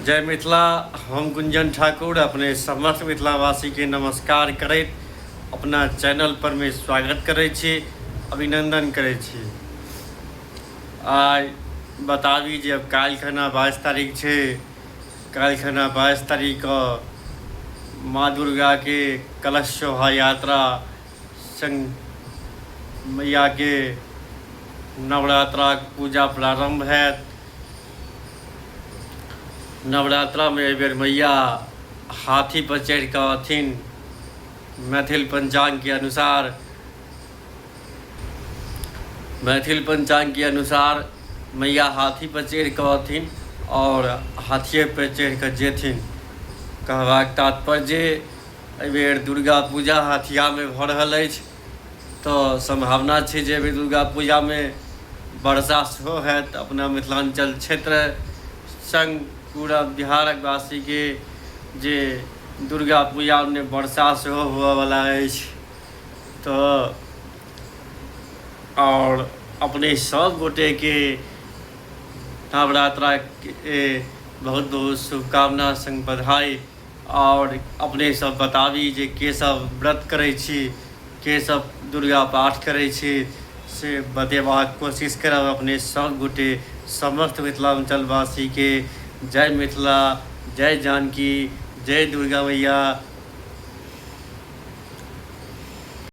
जय मिथिला हम गुंजन ठाकुर अपने समस्त मिथिलावासीके नमस्कार करैत अपना चैनल परमे स्वागत करै छी अभिनंदन करै छी आइ बताबी जे अब काल्हि खना बाइस तारीख छै काल्हि खना बाइस तारीखके माँ दुर्गाके कलश शोभा यात्रा संग मैया के नवरात्राक पूजा प्रारंभ हैत नवरात्रा में एहि बेर मैया हाथी पर चढ़ि कऽ अथिन मैथिल पंचांग के अनुसार मैथिल पंचांग के अनुसार मैया हाथी पर चढ़ि कऽ अथिन और हाथिये पर चढ़ि कऽ जेथिन कहबाक तात्पर्य जे एहिबेर दुर्गा पूजा हाथियामे भऽ रहल अछि तऽ सम्भावना छै जे एहिबेर दुर्गा पूजामे वर्षा सेहो हैत अपना मिथिलाञ्चल क्षेत्र सङ्ग पूरा बिहारक वासीके जे दुर्गा पूजामे वर्षा सेहो हुअवला अछि तऽ आओर अपने सभ गोटेके नवरात्राके बहुत बहुत शुभकामना सङ्ग बधाई आओर अपने सब बताबी जे के सब व्रत करै छी के सब दुर्गा पाठ करै छी से बतेबाक कोशिश करब अपने सब गोटे समस्त मिथिलाञ्चलवासी के जय मिथिला जय जानकी जय दुर्गा मैया